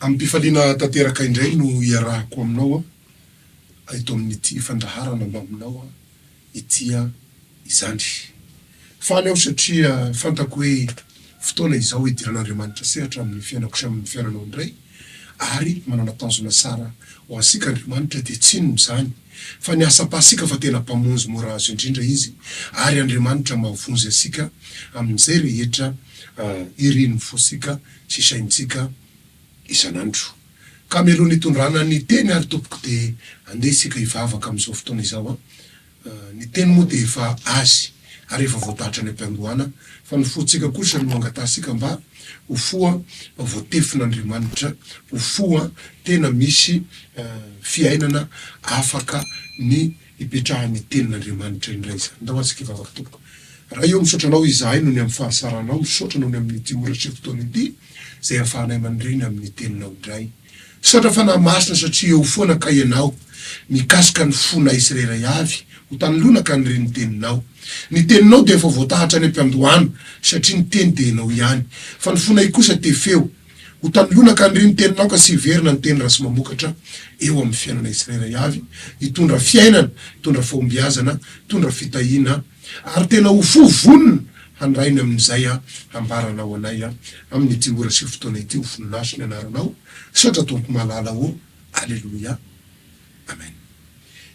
Amim-pifaliana tanteraka indray no iarahako aminao aho eto amin'ity fandaharana mbaminao aho ity izany. Faly aho satria fantako hoe fotoana izao idiran'Andriamanitra sehatra amin'ny fiainako sy amin'ny fiainanao indray ary manana tanjona tsara ho antsika Andriamanitra dia tsy inona izany fa ny asam-pasika fa tena Mpamonjy mora azo indrindra Izy ary Andriamanitra mahavonjy antsika amin'izay rehetra irin'ny fontsika sy saintsika isan'andro. Ka mialoha ny hitondrana ny teny ary tompoko dia andeha isika hivavaka amin'izao fotoana izao an! Ny teny moa dia efa azy ary efa voadahatra any am-piandohana fa ny fontsika kosa no angatahantsika mba ho fo voatefin'Andriamanitra, ho fo tena misy fiainana afaka ny hipetrahan'ny tenin'Andriamanitra indray izany. Ndao atsika hivavaka tompoko. Ray ô misaotra anao izahay noho ny amin'ny fahasaranao, misaotra noho ny amin'ity ora sy fotoana ity izay ahafahanay mandre ny amin'ny teninao indray. Misaotra Fanahy Masina satria eo foana kay ianao mikasika ny fonay tsirairay avy ho tany lonaka hanire ny teninao. Ny teninao dia efa voatahatra any am-piandohana satria ny teny dia ianao ihany fa ny fonay kosa te feo Ho tanilona ka aniriho ny teninao ka sy hiverina ny teny ratsy mamokatra eo amin'ny fiainana tsirairay avy, hitondra fiainana, hitondra fahombiazana, hitondra fitahiana, ary tena ho fo vonona handray ny amin'izay hambaranao anay amin'ity ora sy fotoana ity ho voninahitry ny anaranao, misaotra Tompo malala ô, Aleloia, Amen.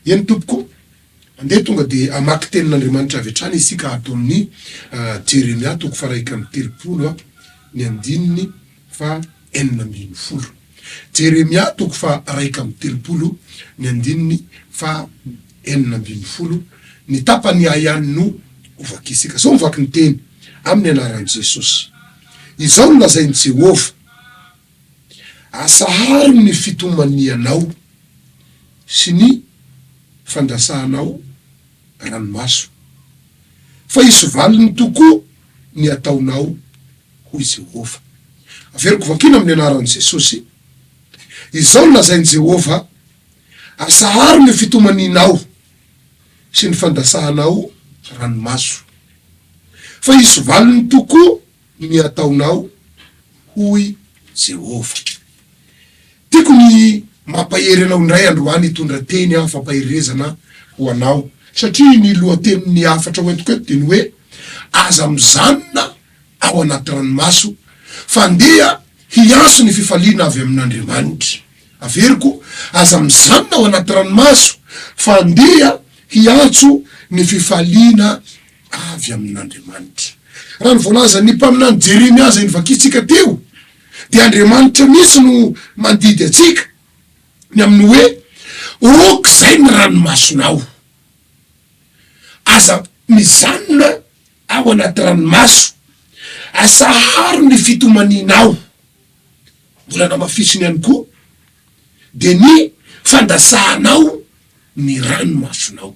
Eny Tompoko ô, Andeha tonga dia hamaky Tenin'Andriamanitra avy hatrany isika ato amin'ny Jeremia toko faha-iraika amby telopolo ny andininy faha-enina ambin'ny folo. Jeremia toko faha-iraika amby telopolo ny andininy faha-enina ambin'ny folo ny tapany ihay ihany no ho vakiantsika. Izao no vaky ny teny, amin'ny anaran'i Jesosy. Izao no lazain'i Jehovah. Asaharo ny fitomanianao sy ny fandrasanao ranomaso, fa hisy valiny tokoa ny ataonao, hoy Jehovah. Averiko vakiana amin'ny anaran'i Jesosy izao ny lazain'i Jehovah, Asaharo ny fitomanianao sy ny fandrasanao ranomaso, fa hisy valiny tokoa. Ny hataonao, hoy Jehovah. Tiako ny mampahery anao indray androany hitondra teny aho fampaherezana ho anao, satria ny lohatenin'ny hafatra hoentiko eto dia ny hoe, Aza mijanona ao anaty ranomaso, fa ndeha hiantso ny fifaliana avy amin'Andriamanitra. Averiko, Aza mijanona ao anaty ranomaso, fa ndeha hiantso ny fifaliana avy amin'Andriamanitra. Raha ny voalazan'ny mpaminany Jeremia izay novakintsika teo dia Andriamanitra mihitsy no mandidy antsika ny amin'ny hoe, Ôk izay ny ranomasonao. Aza mijanona ao anaty ranomaso. Asaharo ny fitomanianao. Mbola namafisiny ihany koa, dia ny fandasahanao ny ranomasonao.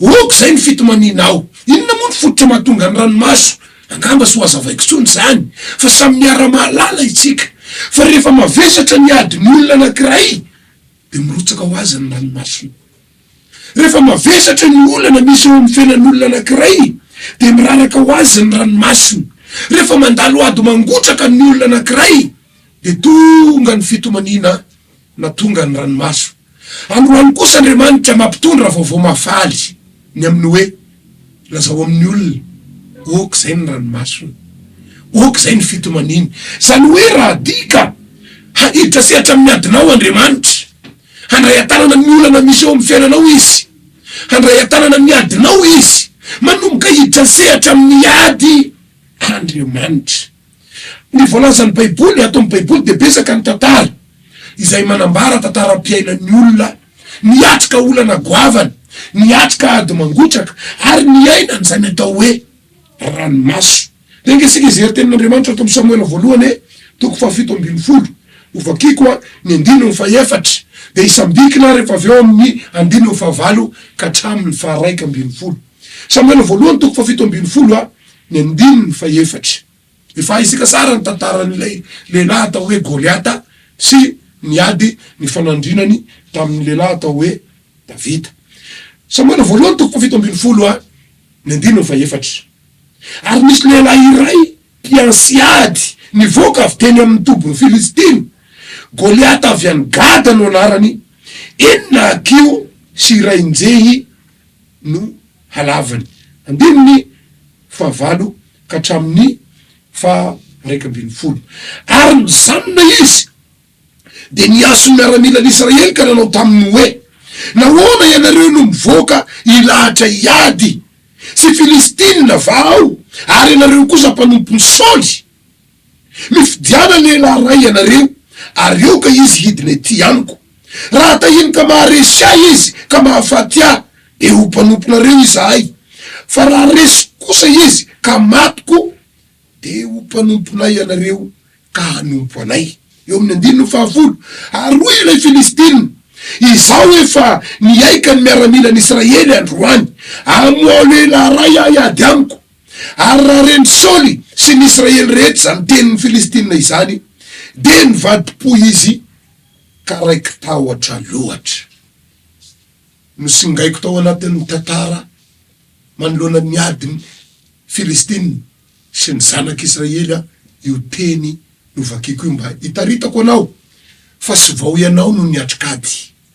Ok izay ny fitomanianao. Inona moa ny fototra mahatonga ny ranomaso? Angamba tsy ho hazavaiko intsony izany fa samy miara-mahalala itsika fa rehefa mavesatra ny adin'ny olona anankiray dia mirotsaka ho azy ny ranomasony. Rehefa mavesatra ny olana misy eo amin'ny fiainan'olona anankiray dia miraraka ho azy ny ranomasony. Rehefa mandalo ady mangotraka ny olona anankiray dia tonga ny fitomaniana. na tonga ny ranomaso. Androany kosa Andriamanitra mampitondra vaovao mahafaly ny amin'ny hoe, Lazao amin'ny olona, ok izay ny ranomasony, ok izay ny fitomaniany. Izany hoe raha tia ka haniditra sehatra amin'ny adinao Andriamanitra, handray an-tanana ny olana misy eo amin'ny fiainanao Izy, handray an-tanana ny adinao Izy, manomboka hiditra sehatra amin'ny ady Andriamanitra. Ny voalazan'ny Baiboly, ato amin'ny Baiboly, dia betsaka ny tantara izay manambara tantaram-piainan'ny olona niatrika olana goavana, niatrika ady mangotraka, ary niaina an'izany atao hoe ranomaso. Dia enga isika hijery Tenin'Andriamanitra ato amin'ny Samoela Voalohany e, toko fahafito ambin'ny folo. Hovakiko ny andininy fahefatra, dia hisambikina aho rehefa avy eo amin'ny andininy fahavalo ka hatramin'ny faharaika ambin'ny folo. Samoela Voalohany, toko fahafito ambin'ny folo. Ny andininy fahefatra. Efa haintsika tsara ny tantaran'ilay lehilahy atao hoe Goliata sy ny ady nifanandrinany tamin'ny lehilahy atao hoe Davida. Samoela Voalohany toko fahafito ambin'ny folo ha, ny andininy fahefatra. Ary nisy lehilahy iray mpiantsy ady nivoaka avy teny amin'ny tobin'ny Filistina, Goliata avy any Gada no anarany, enina hakiho sy iray njehy no halavany. Andininy fahavalo ka hatramin'ny faha raika ambin'ny folo. Ary nijanona izy, dia nihaso ny miaramilan'Israely ka nanao taminy hoe, Nahoana ianareo no mivoaka hilahatra hiady sy Filistina va aho, ary ianareo kosa mpanompon'i Saoly? Mifidiana lehilahy iray ianareo, ary aoka izy hidina ety amiko. Raha tahiny ka maharesy ahy izy ka mahafaty ahy, dia ho mpanomponareo izahay, fa raha resy kosa izy ka maty koa, dia ho mpanomponay ianareo ka hanompo anay. Eo amin'ny andininy fahafolo. Ary hoy ilay Filistina, Izaho efa nihaika ny miaramilan'Israely androany, amoaho lehilahy iray hahady amiko. Ary raha ren'i Saoly sy ny Israely rehetra izany tenin'ny Filistina izany, dia nivadi-po izy ka raiki-tahotra loatra. Nosingaiko tao anatin'ny tantara manoloana ny adin'ny Filistina sy ny zanak'Israely io teny novakiko io mba hitaritako anao fa sivao ianao no niatrik'ady.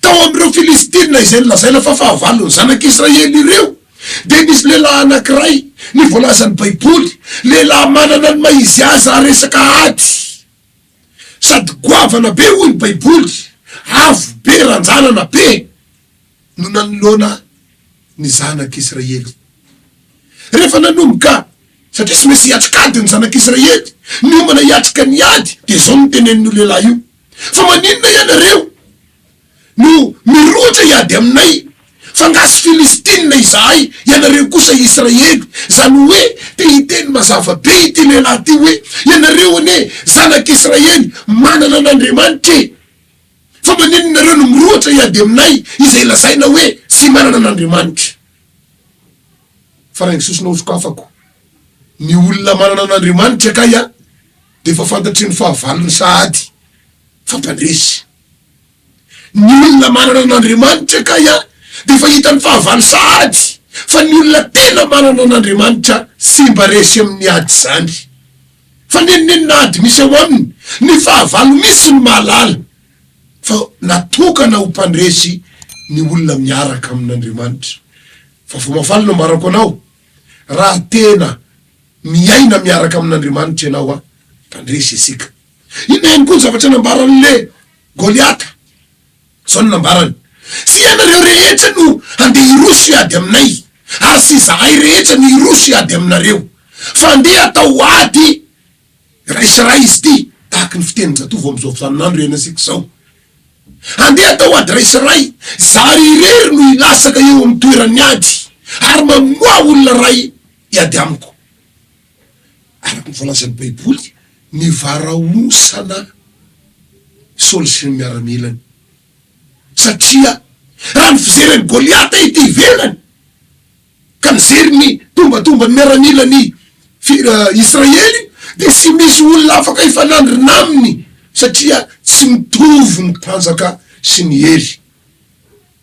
Tao amin'ireo Filistina izay nolazaina fa fahavalon'ny Zanak'Israely ireo, dia nisy lehilahy anankiray, ny voalazan'ny Baiboly, lehilahy manana ny maha izy azy raha resaka ady, sady goavana be, hoy ny Baiboly, avo be, ranjanana be, no nanoloana ny Zanak'Israely. Rehefa nanomboka, satria tsy maintsy hiatrika ady ny Zanak'Israely, niomana hiatrika ny ady, dia izao no tenenin'io lehilahy io. Fa maninona ianareo no mirohotra hiady aminay? F'angaha sy Filistina izahay, ianareo kosa Israely? Izany hoe, te hiteny mazava be ity lehilahy ity hoe, Ianareo anie zanak'Israely, manana an'Andriamanitra e! Fa maninona ianareo no mirohotra hiady aminay, izay lazaina hoe tsy manana an'Andriamanitra? Fa rain'ny sosona ho sokafako ny olona manana an'Andriamanitra kay a! dia efa fantatry ny fahavalony sahady fa mpandresy. Ny olona manana an'Andriamanitra kay dia efa hitan'ny fahavalo sahady fa ny olona tena manana an'Andriamanitra tsy mba resy amin'ny ady izany. Fa nenonenona ady misy ao aminy, ny fahavalo mihitsy no mahalala fa natokana ho mpandresy ny olona miaraka amin'Andriamanitra. Fa vao mafaly no ambarako anao, raha tena. Miaina miaraka amin'Andriamanitra ianao a Tandresy isika. Inona ihany koa ny zavatra nambaran'le Goliata? Izao no nambarany, Tsy ianareo rehetra no handeha hiroso hiady aminay, ary tsy izahay rehetra no hiroso hiady aminareo, fa andeha atao ady iray sy iray izy ity, tahaka ny fitenin-jatovo amin'izao fizaninandro iainantsika izao. Andeha atao ady iray sy iray, zary irery no hilasaka eo amin'ny toeran'ny ady ary mamoaha olona iray. Hiady amiko. Araka ny voalazan'ny Baiboly, nivarahontsana Saoly sy ny miaramilany. Satria raha ny fijery an'i Goliata ety ivelany, ka nijery ny tombantomban'ny miaramilan'i Israely, dia tsy misy olona afaka hifanandrina aminy, satria tsy mitovy ny mpanjaka sy ny hery.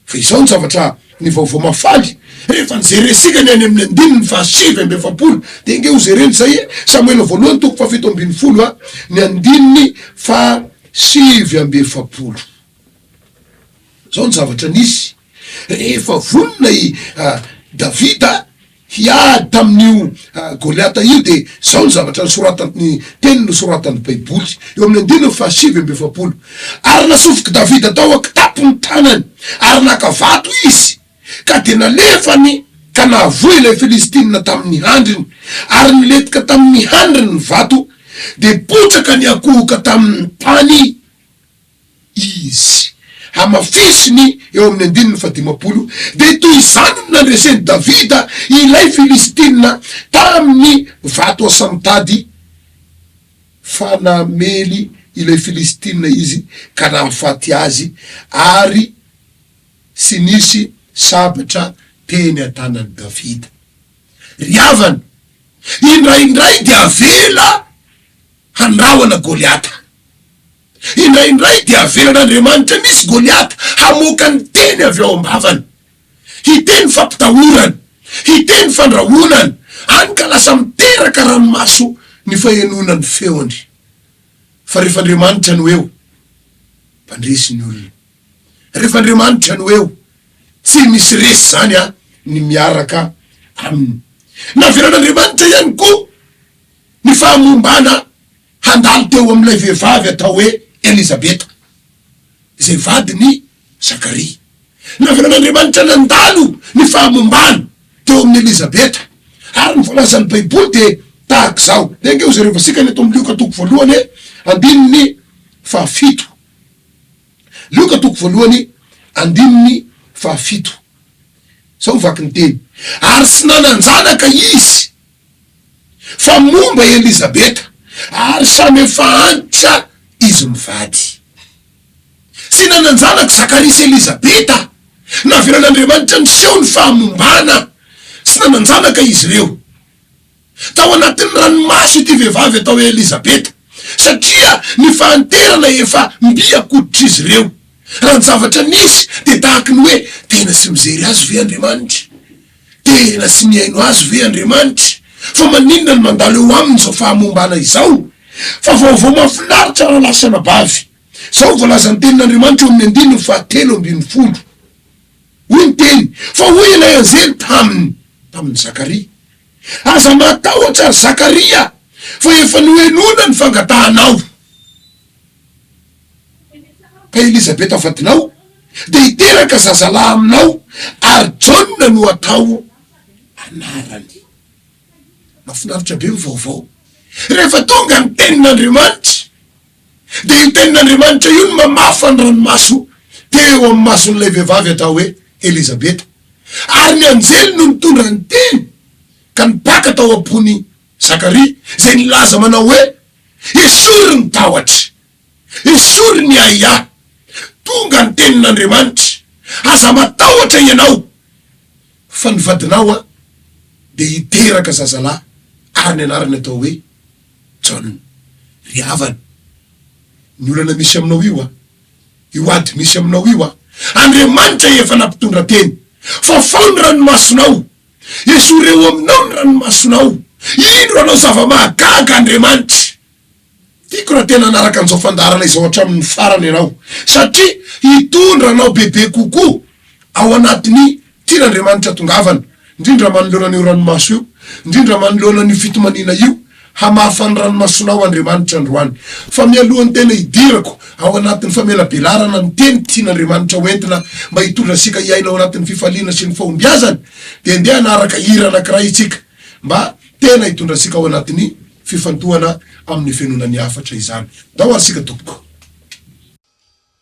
Fa izao no zavatra nivaovao mahafaly, Rehefa nijerentsika ny any amin'ny andininy fahasivy amby efapolo, dia ange hojerena izay, Samoela Voalohany toko fahafito ambin'ny folo, ny andininy fahasivy amby efapolo. Izao no zavatra nisy rehefa vonona i Davida. hiady tamin'io Goliata io dia izao ny zavatra nosoratany, ny teny nosoratan'ny Baiboly eo amin'ny andininy fahasivy amby efapolo, Ary nasofik'i Davida tao an-kitapo ny tanany, ary naka vato izy, ka dia nalefany ka nahavoa ilay Filistina tamin'ny handriny, ary nilentika tamin'ny handriny ny vato, dia potraka niankohoka tamin'ny tany. Izy. Hamafisiny eo amin'ny andininy fahadimampolo, dia toy izany no nandresen'i Davida ilay Filistina tamin'ny vato asamitady, fa namely ilay Filistina izy ka nahafaty azy, ary tsy nisy sabatra teny an-tanan'i Davida. Ry havana, indraindray dia avela handrahona Goliata. Indraindray dia avelan'Andriamanitra misy Goliata hamoaka ny teny avy ao am-bavany, hiteny fampitahorana, hiteny fandrahonana, hany ka lasa miteraka ranomaso ny fahenoana ny feony. Fa rehefa Andriamanitra no eo, mpandresy ny olona. Rehefa Andriamanitra no eo, tsy misy resy izany an, ny miaraka Aminy. Navelan'Andriamanitra ihany koa ny fahamombana Handalo teo amin'ilay vehivavy atao hoe Elizabeta, izay vadin'i Zakaria. Naverin'Andriamanitra nandalo ny fahamombany teo amin'i Elizabeta, ary ny voalazan'ny Baiboly dia tahaka izao. Dia ange hojereo vasikany eto amin'ny Lioka toko voalohany andininy fahafito. Lioka toko voalohany andininy fahafito. Izao ny vaky ny teny, Ary tsy nanan-janaka izy. Fa momba Elizabeta, ary samy efa antitra izy mivady. Tsy nanan-janaka Zakaria sy Elizabeta, navelan'Andriamanitra niseho ny fahamombana, tsy nanan-janaka izy ireo. Tao anatin'ny ranomaso ity vehivavy atao hoe Elizabeta, satria ny fahanterana efa mby an-koditr'izy ireo. Raha ny zavatra nisy, dia tahaky ny hoe tena tsy mijery azy ve Andriamanitra? Tena tsy mihaino azy ve Andriamanitra? Fa maninona no mandalo eo aminy izao fahamombana izao? Fa vaovao mahafinaritra raha lafy sy anabavy. Izao no voalazan' ny Tenin'Andriamanitra eo amin' ny andininy fahatelo ambin'ny folo. Hoy ny Teny, Fa hoy ilay anjely taminy, tamin' i Zakaria, Aza matahotra, ry Zakaria, fa efa nohenoina ny fangatahanao. Ka Elizabeta vadinao dia hiteraka zazalahy aminao, ary Jaona no hatao anarany. Mahafinaritra be ny vaovao. Rehefa tonga ny Tenin'Andriamanitra, dia io Tenin'Andriamanitra io no mamafa ny ranomaso teo amin'ny mason'ilay vehivavy atao hoe Elizabeta. Ary ny anjely no nitondra ny Teny ka nibaka tao am-pon'i Zakaria, izay nilaza manao hoe, Esory ny tahotry! Esory ny ahiahy! Tonga ny tenin'Andriamanitra, Aza matahotra ianao, fa ny vadinao dia hiteraka zazalahy ary ny anarany hatao hoe Jaona. Ry havana, ny olana misy aminao io, io ady misy aminao io, Andriamanitra efa nampitondra teny. Fafao ny ranomasonao. Esory eo aminao ny ranomasonao. Indro hanao zava-mahagaga Andriamanitra. Tiako raha tena hanaraka an'izao fandaharana izao hatramin'ny farany ianao, satria hitondra anao bebe kokoa ao anatin'ny tian'Andriamanitra hatongavana, indrindra manoloana an'io ranomaso io, indrindra manoloana an'io fitomaniana io. Hamafa ny ranomasonao Andriamanitra androany. Fa mialohan'ny tena hidirako ao anatin'ny famelabelarana ny teny tian'Andriamanitra ho entina mba hitondra antsika hiaina ao anatin'ny fifaliana sy ny fahombiazany, dia ndeha hanaraka hira anankiray isika mba tena hitondra antsika ao anatin'ny fifantohana amin'ny fenona ny hafatra izany. Ndao ary isika tompoko.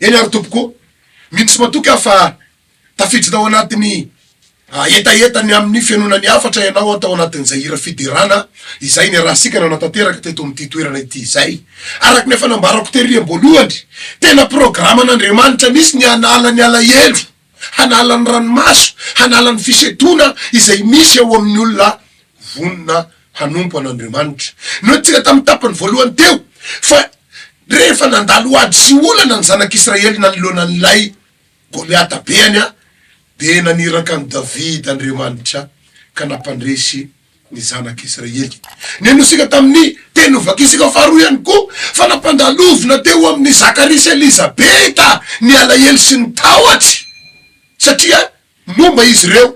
Eny ary tompoko o! Mino sy matoky aho fa tafiditra tao anatin'ny hetaheta ny amin'ny fihainoana ny hafatra ianao tao anatin'izay hira fiderana izay niarahantsika nanatanteraka teto amin'ity toerana ity izay. Araka ny efa nambarako tery amboalohany, tena programan'Andriamanitra mihitsy ny hanala ny alahelo. hanala ny ranomaso, hanala ny fisedoana izay misy eo amin'ny olona vonona hanompo an'Andriamanitra. Noentintsika tamin'ny tapany voalohany teo fa rehefa nandalo ady sy olana ny zanak'Israely nanoloana an'ilay Goliata be any, dia naniraka an'i Davida Andriamanitra ka nampandresy ny Zanak'i Israely. Nino isika tamin'ny teny novakisika faharoa ihany koa fa nampandalovina teo amin'i Zakaria sy Elizabeta ny alahelo sy ny tahotry, satria momba izy ireo.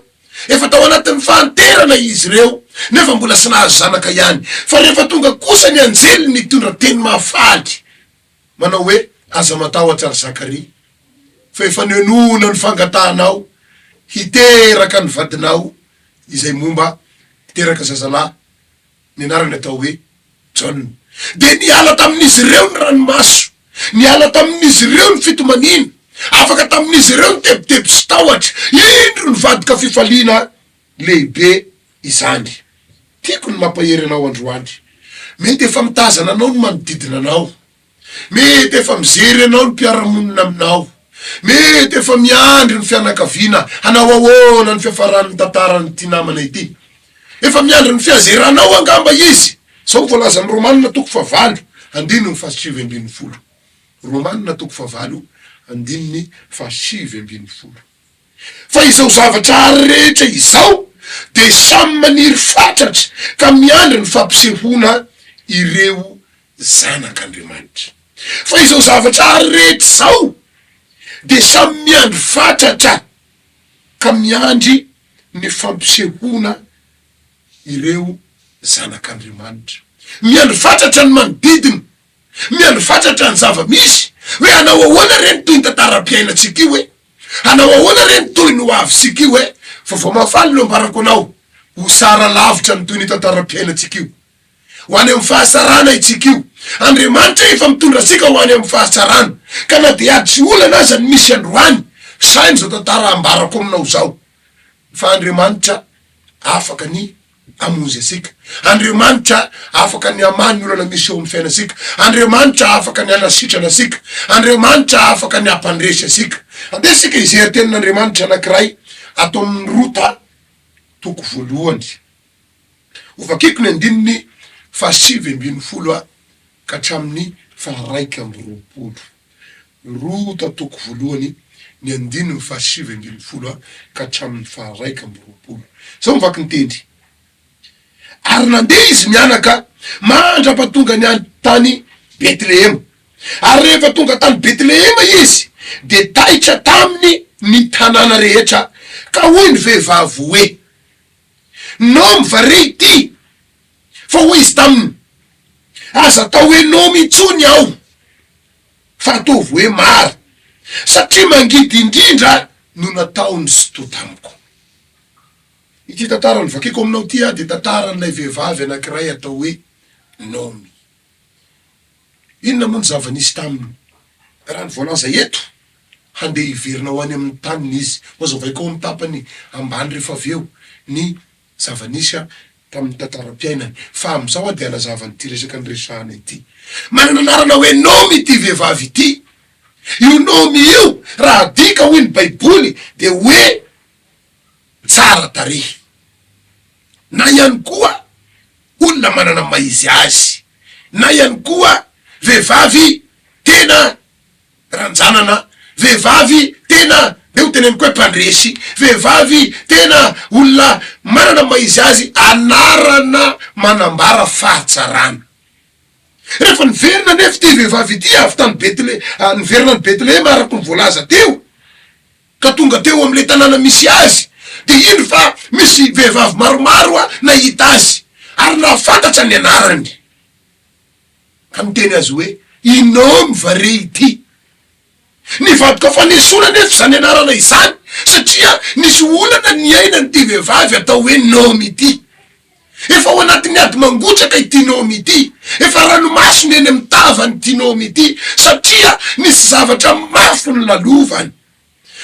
Efa tao anatin'ny fahanterana izy ireo, nefa mbola tsy nahazo zanaka ihany. Fa rehefa tonga kosa ny anjely nitondra teny mahafaly, manao hoe, Aza matahotra ry Zakaria, fa efa nihenoana ny fangatahanao hiteraka ny vadinao izay momba hiteraka zazalahy, ny anarany atao hoe Jaona. Dia niala tamin'izy ireo ny ranomaso, niala tamin'izy ireo ny fitomaniana, afaka tamin'izy ireo ny tebiteby sy tahotra. Indro nivadika fifaliana! Lehibe izany. Tiako ny mampahery anao androany. Mety efa mitazana anao ny manodidina anao. Mety efa mijery anao ny mpiara-monina aminao. Mety efa miandry ny fianakaviana hanao ahoana ny fiafaran'ny tantaran'ity namana ity. Efa miandry ny fiazeranao angamba izy. Izao no voalazan'ny Romanina toko fahavalo andininy fahasivy ambin'ny folo. Romanina toko fahavalo andininy fahasivy ambin'ny folo. Fa izao zavatra ary rehetra izao dia samy maniry fatratra ka miandry ny fampisehoana ireo zanak'Andriamanitra. Fa izao zavatra ary rehetra izao dia samy miandry fatratra ka miandry ny fampisehoana ireo zanak'Andriamanitra. Miandry fatratra ny manodidina Miandry fatratra ny zava-misy hoe hanao ahoana re ny toy ny tantaram-piainantsika io e! Hanao ahoana re ny toy ny ho avintsika io e! Vaovao mahafaly no ambarako anao, ho sara lavitra ny toy ny tantaram-piainantsika io. Ho any amin'ny fahatsarana itsika io. Andriamanitra efa mitondra antsika ho any amin'ny fahatsarana. Ka na dia ady sy olana aza ny misy androany, saino izao tantara ambarako aminao izao fa Andriamanitra afaka ny. Hamonjy antsika. Andriamanitra afaka ny hamaha ny olana misy eo amin'ny fiainantsika. Andriamanitra afaka ny hanasitrana antsika. Andriamanitra afaka ny hampandresy antsika. Andeha isika hijery tenin'Andriamanitra anankiray ato amin'ny Rota toko voalohany. Hovakiko ny andininy fahasivy ambin'ny folo ka hatramin'ny faharaika amby roapolo. Roa tatoko voalohany ny andininy fahasivy ambin'ny folo ka hatramin'ny faharaika amby roapolo. Izao ny vaky ny tendry, Ary nandeha izy mianaka mandra-pahatongany any tany Betlehema. Ary rehefa tonga tany Betlehema izy, dia taitra taminy ny tanàna rehetra, ka hoy ny vehivavy hoe. Nomy va re ity? Fa hoy izy taminy, Aza atao hoe Nomy intsony aho, fa ataovy hoe Mara, satria mangidy indrindra no nataon'i Sitoha tamiko. Ity tantara novakiko aminao ity dia tantaran'ilay vehivavy anankiray atao hoe Nomy. Inona moa ny zava-nisy taminy? Raha ny voalaza eto, handeha hiverina ho any amin'ny taniny izy. Hohazavaiko ao amin'ny tapany ambany rehefa avy eo ny zava-nisy tamin'ny tantaram-piainany. Fa amin'izao dia hanazava an'ity resaka niresahana ity. Manana anarana hoe Nomy ity vehivavy ity. Io Nomy io, raha adika hoy ny Baiboly, dia hoe tsara tarehy. na ihany koa olona manana ny maha izy azy, na ihany koa vehivavy tena ranjanana, vehivavy tena dia ho teneniko hoe mpandresy, vehivavy tena olona manana ny maha izy azy, anarana manambara fahatsarana. Rehefa niverina anefa ity vehivavy ity avy tany Betle, niverina any Betlehema araka ny voalaza teo, ka tonga teo amin'ilay tanàna misy azy, dia indro fa misy vehivavy maromaro nahita azy, ary nahafantatra ny anarany, ka niteny azy hoe, Inom va re ity? Nivadika fanesoana anefa izany anarana izany, satria nisy olana niainan'ity vehivavy atao hoe Naomy ity. Efa ao anatin'ny ady mangotraka ity nome ity, efa ranomasony eny amin'ny tavany ity nome ity satria nisy zavatra mafy nolalovany.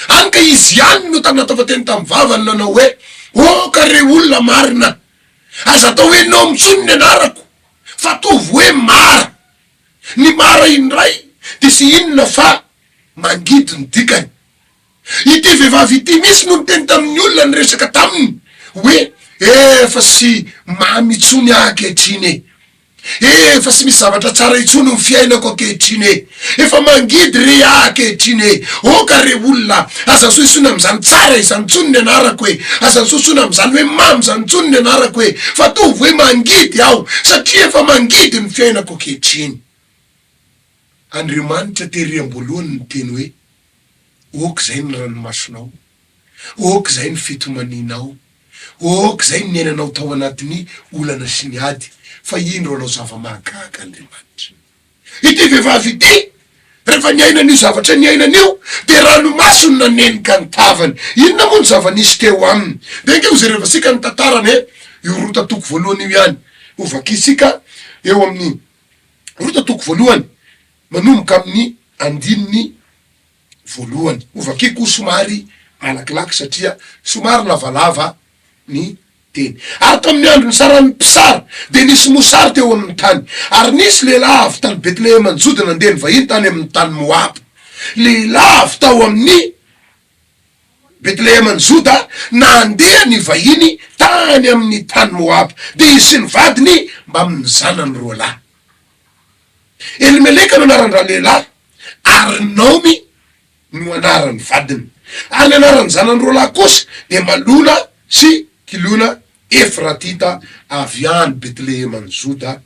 Hany ka izy ihany no tamin'ny nataova teny tamin'ny vavany nanao hoe, Oh ka re olona marina, aza atao hoe nome intsony ny anarako fa ataovy hoe mara. Ny mara indray dia tsy inona fa mangidy ny dikany. Ity vehivavy ity mihitsy no niteny tamin'ny olona niresaka taminy hoe, Efa tsy mamy intsony aho ankehitriny e! Efa tsy misy zavatra tsara intsony ny fiainako ankehitriny e! Efa mangidy re aho ankehitriny e! Oh ka re olona, aza ansohisoina amin'izany tsara izany intsony ny anarako e! Aza ansohisoina amin'izany hoe mamy izany intsony ny anarako e! Fa ataovy hoe mangidy aho, satria efa mangidy ny fiainako ankehitriny. Andriamanitra tery am-boalohany niteny hoe, Ok zay ny ranomasonao, ok zay ny fitomanianao, ok zay ny niainanao tao anatin'ny olana sy ny ady, fa indro hanao zava-mahagaga Andriamanitra. Ity vehivavy ity, rehefa niaina an'io zavatra niainany io, dia ranomaso no nanenika ny tavany. Inona moa ny zava-nisy teo aminy? Dia ange hojerevantsika ny tantarany e! Io Rota toko voalohany io ihany, hovakintsika eo amin'ny Rota toko voalohany. Manomboka amin'ny andininy voalohany. Ho vakiko somary malakilaky satria somary lavalava ny teny. Ary tamin'ny andro nisaran'ny mpisara, dia nisy mosary teo amin'ny tany. Ary nisy lehilahy avy tany Betlehema-ny-Joda nandeha nivahiny tany amin'ny tany Moaba. Lehilahy avy tao amin'ny Betlehema-ny-Joda nandeha nivahiny tany amin'ny tany Moaba, dia izy sy ny vadiny mbamin'ny zanany roalahy. Elimeleka no anaran-dralehilahy, ary Naomy no anaran'ny vadiny, ary ny anaran'ny zanany roa lahy kosa dia Malona sy Kilona, Efratita avy any Betleheman'i Joda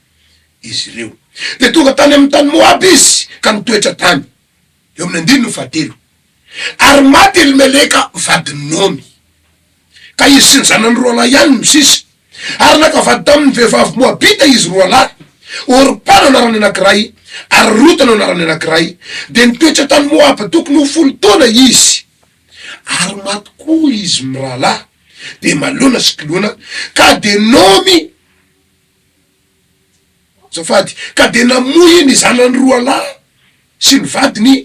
izy ireo. Dia tonga tany amin'ny tany Moaba izy ka nitoetra tany. Eo amin'ny andininy fahatelo, Ary maty Elimeleka vadin'i Naomy, ka izy sy ny zanany roalahy ihany no sisa, ary naka vady tamin'ny vehivavy moabita izy roalahy, Orpa no anaran'ny anankiray, ary Rota no anaran'ny anankiray, dia nitoetra tany Moaba tokony ho folo taona izy. Ary maty koa izy mirahalahy, dia Malona sy Kilona, ka dia Naomy Azafady. Ka dia namoy ny zanany roalahy sy ny vadiny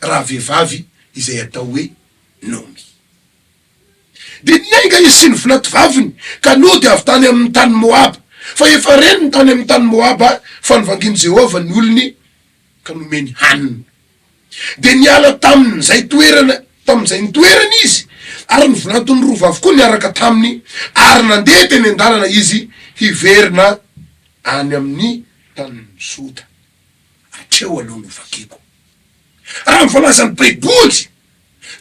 rahavehivavy izay atao hoe Naomy. Dia niainga izy sy ny vinativaviny ka nody avy tany amin' ny tany Moaba, fa efa reniny tany amin' ny tany Moaba fa novangin'i Jehovah ny olony ka nomeny hanina. Dia niala tamin'izay toerana, tamin'izay nitoerany izy, ary ny volanton'ny rova avokoa niaraka taminy, ary nandeha teny an-dalana izy hiverina any amin'ny tanin'i Joda. Hatreo aloha no vakiko. Raha ny voalazan'ny Baiboly,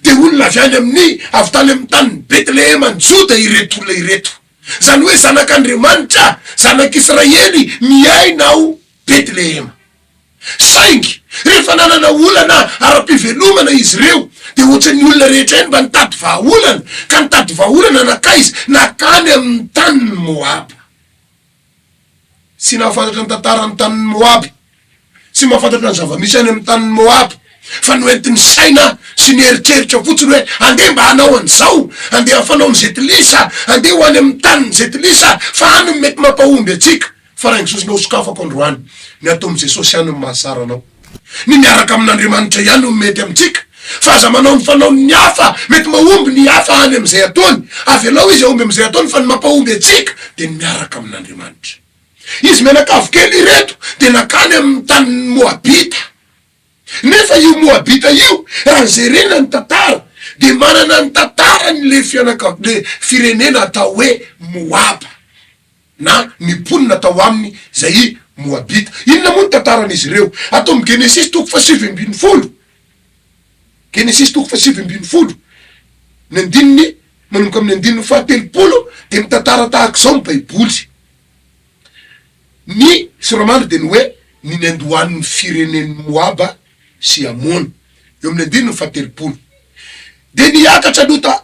dia olona avy any amin'ny, avy tany amin'ny tanin'i Betlehema any Joda ireto olona ireto. Izany hoe zanak'Andriamanitra, zanak'Israely miaina ao Betlehema. Saingy, rehefa nanana olana ara-pivelomana izy ireo, dia hoatran'ny olona rehetra ihany mba nitady vahaolana, ka nitady vahaolana nankaiza? Nankany amin'ny tanin'i Moaba. Tsy nahafantatra ny tantaran'ny tanin'i Moaba, tsy mahafantatra ny zava-misy any amin'ny tanin'i Moaba, fa noentin'ny saina sy ny eritreritra fotsiny hoe, Andeha mba hanao an'izao, andeha hafanaon'i Zetilisa, andeha ho any amin'ny tanin'i Zetilisa, fa any no mety mampahomby antsika. Farain'i Jesosy mba hosokafako androany ny ataon'i Jesosy ihany no mahasara anao. Ny miaraka amin'Andriamanitra ihany no mety amintsika fa aza manao ny fanaon'ny hafa mety mahomby ny hafa any amin'izay ataony. Avelao izy hahomby amin'izay ataony fa ny mampahomby antsika dia ny miaraka amin'Andriamanitra. Izy mianakavy kely ireto dia nakany amin'ny tanin'ny Moabita. Nefa io Moabita io raha jerena ny tantara dia manana ny tantarany le fianakavy le firenena atao hoe Moaba na ny mponina tao aminy zay i Moabita. Inona moa ny tantaran'izy ireo? Ato amin'ny Genesisy toko fahasivy ambin'ny folo, Genesisy toko fahasivy ambin'ny folo ny andininy manomboka amin'ny andininy fahatelopolo dia mitantara tahaka izao ny Baiboly. Ny sora-mandry dia ny hoe ny niandohan' ny firenen' ny Moaba sy Amona, eo amin' ny andininy fahatelopolo. Dia niakatra Lota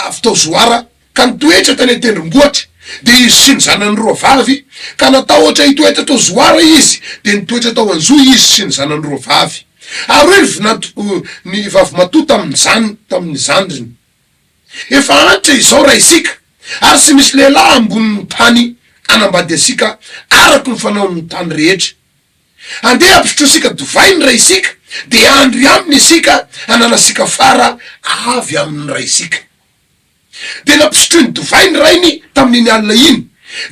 avy tao Zoara ka nitoetra tany an-tendrombohitra, dia izy sy ny zanany roa vavy, ka natahotra hitoetra tao Zoara izy, dia nitoetra tao an-johy izy sy ny zanany roa vavy. Ary hoy ny vinanto, ny vavimatoa tamin' ny zandriny. Efa antra izao raha isika ary tsy misy lehilahy ambonin'ny tany hanambady antsika araka ny fanaon'ny tany rehetra. Andeha ampisotroasika divay ny raisika dia handry aminy isika hananasika fara avy amin'ny raisika. Dia nampisotroiny divay ny rainy tamin'iny alina iny,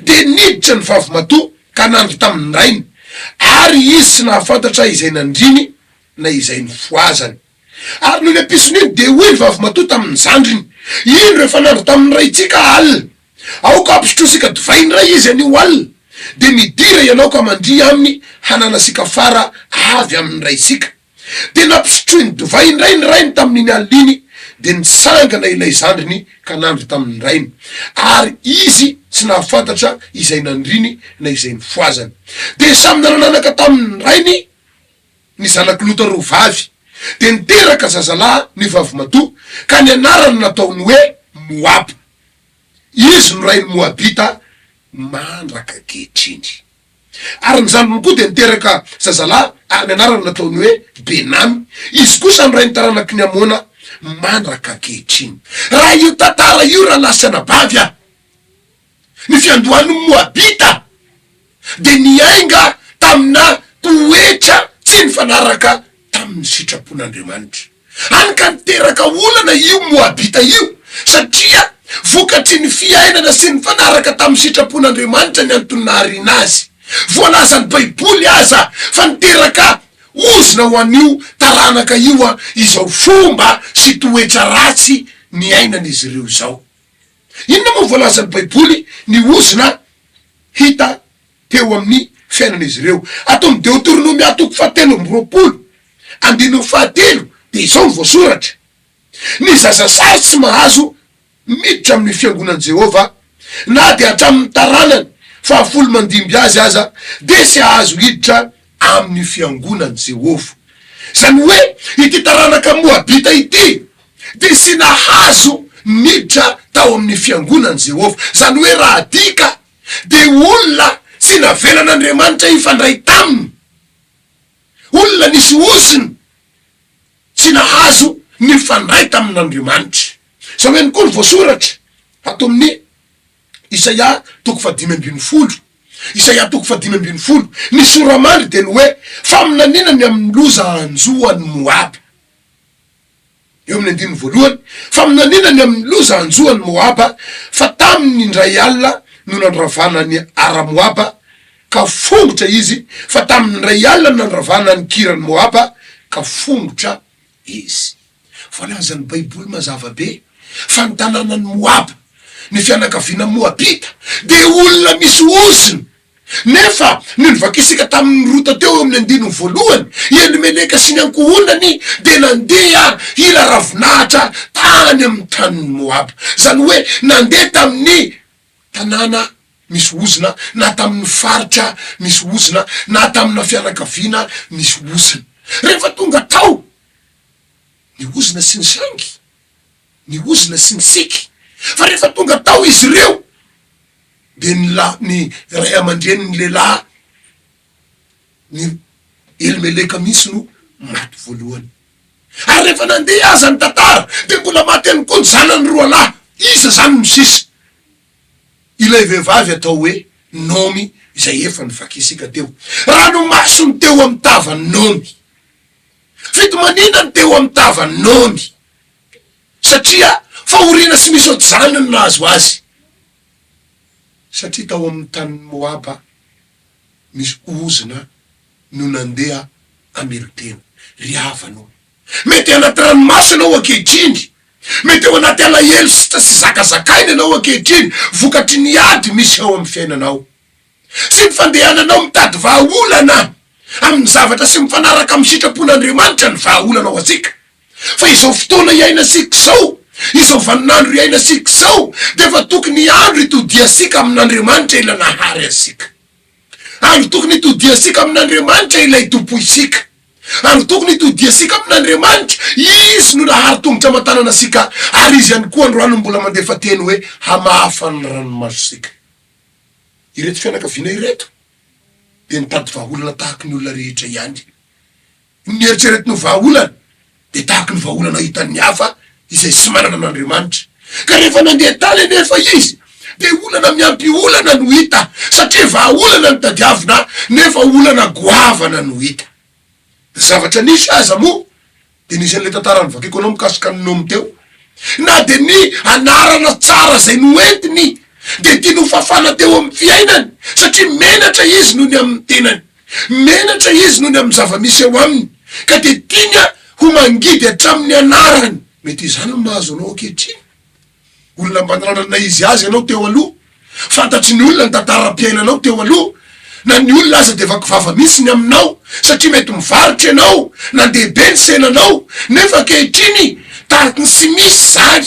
dia niditra ny vavimatoa ka nandry tamin'ny rainy, ary izy tsy nahafantatra izay nandriny na izay nifohazany. Ary noho ilay mpisony iny dia hoy ny vavimatoa tamin'ny zandriny, Indro efa nandry tamin'ny raintsika alina. Aoka hampisotrosika divay indray izy anio alina, dia midira ianao ka mandria aminy hananasika fara avy amin'ny raintsika. Dia nampisotroiny divay indray ny rainy tamin'iny alina iny, dia nitsangana ilay zandriny ka nandry tamin'ny rainy. Ary izy tsy nahafantatra izay nandriny na izay nifohazany. Dia samy nanananaka tamin'ny rainy. Ny zanak'i Lota roa vavy dia niteraka zazalahy ny vavimatoa, ka ny anarany nataony hoe Moaba. Izy no rain'ny Moabita mandraka ankehitriny. Ary ny zandriny koa dia niteraka zazalahy, ary ny anarany nataony hoe Benamy. Izy kosa no rain'ny taranaky ny Amona mandraka ankehitriny. Raha io tantara io raha lahy sy anabavy a! Ny fiandohan'ny Moabita dia niainga tamina toetra tsy nifanaraka tamin'ny sitrapon'Andriamanitra. Hany ka niteraka olana io Moabita io, satria vokatry ny fiainana tsy nifanaraka tamin'ny sitrapon'Andriamanitra ny antony nahariana azy. Voalazan'ny Baiboly aza fa niteraka ozona ho an'io taranaka io izao fomba sy toetra ratsy niainan'izy ireo izao. Inona moa voalazan'ny Baiboly ny ozona hita teo amin'ny fiainan'izy ireo? Ato amin'ny Deoteronomia toko fahatelo amby roapolo, andininy fahatelo, dia izao no voasoratra, Ny zaza sazy tsy mahazo miditra amin'ny fiangonan'i Jehovah, na dia hatramin'ny taranany fahafolo mandimby azy aza, dia tsy hahazo hiditra amin'io fiangonan'i Jehovah. Izany hoe ity taranaka moabita ity dia tsy nahazo niditra tao amin'ny fiangonan'i Jehovah. Izany hoe raha adika dia olona tsy navelan'Andriamanitra hifandray taminy, olona nisy ozony tsy nahazo nifandray tamin'Andriamanitra. Izao ihany koa no voasoratra ato amin'ny Isaia toko fahadimy ambin'ny folo Isaia toko fahadimy ambin'ny folo Ny sora-mandry dia ny hoe, faminaniana ny amin'ny loza hanjo an'i Moaba. Eo amin'ny andininy voalohany, Faminaniana ny amin'ny loza hanjo an'i Moaba, fa tamin'ny indray alina no nandravana an'i Ara-Moaba, ka fongotra izy, fa tamin'ny indray alina no nandravana an'i Kira-n'i-Moaba, ka fongotra Izy. Voalazan'ny Baiboly mazava be fa ny tanànan'i Moaba, ny fianakaviana moabita, dia olona misy ozona. Nefa, ny novakisika tamin'i Rota teo eo amin'ny andininy voalohany, i Elimeleka sy ny ankohonany dia nandeha hila ravinahitra tany amin'ny tanin'i Moaba, izany hoe nandeha tamin'ny tanàna misy ozona na tamin'ny faritra misy ozona na tamina fianakaviana misy ozona. Rehefa tonga tao ny ozona sy ny sangy, ny ozona sy ny siky, fa rehefa tonga tao izy ireo dia ny la ny ray aman-drenin'ny lehilahy ny elimeleka mihintsy no maty voalohany ary rehefa nandeha aza ny tantara dia mbola maty ihany koa ny zanany roa lahy iza izany no sisa ilay vehivavy atao hoe nomy izay efa novakiasika teo ranomaso ny teo amin'ny tavan'i nomy fitomaniana ny teo amin'ny tavan'i nomy satria fahoriana sy misy ohatr'izany no nahazo azy satria tao amin'ny tanin'i moaba misy ozona no nandeha hamelon-tena. Ry havana o! Mety anaty ranomaso ianao ankehitriny. Mety ao anaty alahelo sy tsy azo zakazakaina ianao ankehitriny vokatry ny ady misy ao amin'ny fiainanao sy ny fandehananao mitady vahaolana amin'ny zavatra sy mifanaraka amin'ny sitrapon'Andriamanitra ny vahaolana ho antsika. Fa izao fotoana iainasika izao, izao vaninandro iainasika izao, dia efa tokony andro itodiasika amin'Andriamanitra Ilay nahary antsika. Andro tokony itodiasika amin'Andriamanitra Ilay Tompoisika. Andro tokony itodiasika amin'Andriamanitra, Izy no nahary tongotra aman-tanana antsika, ary Izy ihany koa androany no mbola mandefa teny hoe hamafa ny ranomasontsika. Ireto fianakaviana ireto dia nitady vahaolana tahaka ny olona rehetra ihany. Ny nieritreretiny ho vahaolana dia tahaka ny vahaolana hitan'ny hafa izay tsy manana an'Andriamanitra. Ka rehefa nandeha tany anefa izy dia olana miampy olana no hita satria vahaolana no tadiavina nefa olana goavana no hita. Ny zavatra nisy aza moa dia nisy an'ilay tantara novakiko anao mikasika an'i Nomy teo. Na dia ny anarana tsara izay noentiny dia tiany hofafana teo amin'ny fiainany satria menatra izy noho ny amin'ny tenany. Menatra izy noho ny amin'ny zava-misy eo aminy, ka dia tiany ho mangidy hatramin'ny anarany. Mety izany no mahazo anao ankehitriny. Olona mba nananana izy azy ianao teo aloha. Fantatry ny olona ny tantaram-piainanao teo aloha. Na ny olona aza dia vaky vava mihitsy ny aminao, satria mety mivarotra ianao, na ndeha be ny senanao, nefa ankehitriny, tariky ny tsy misy izany.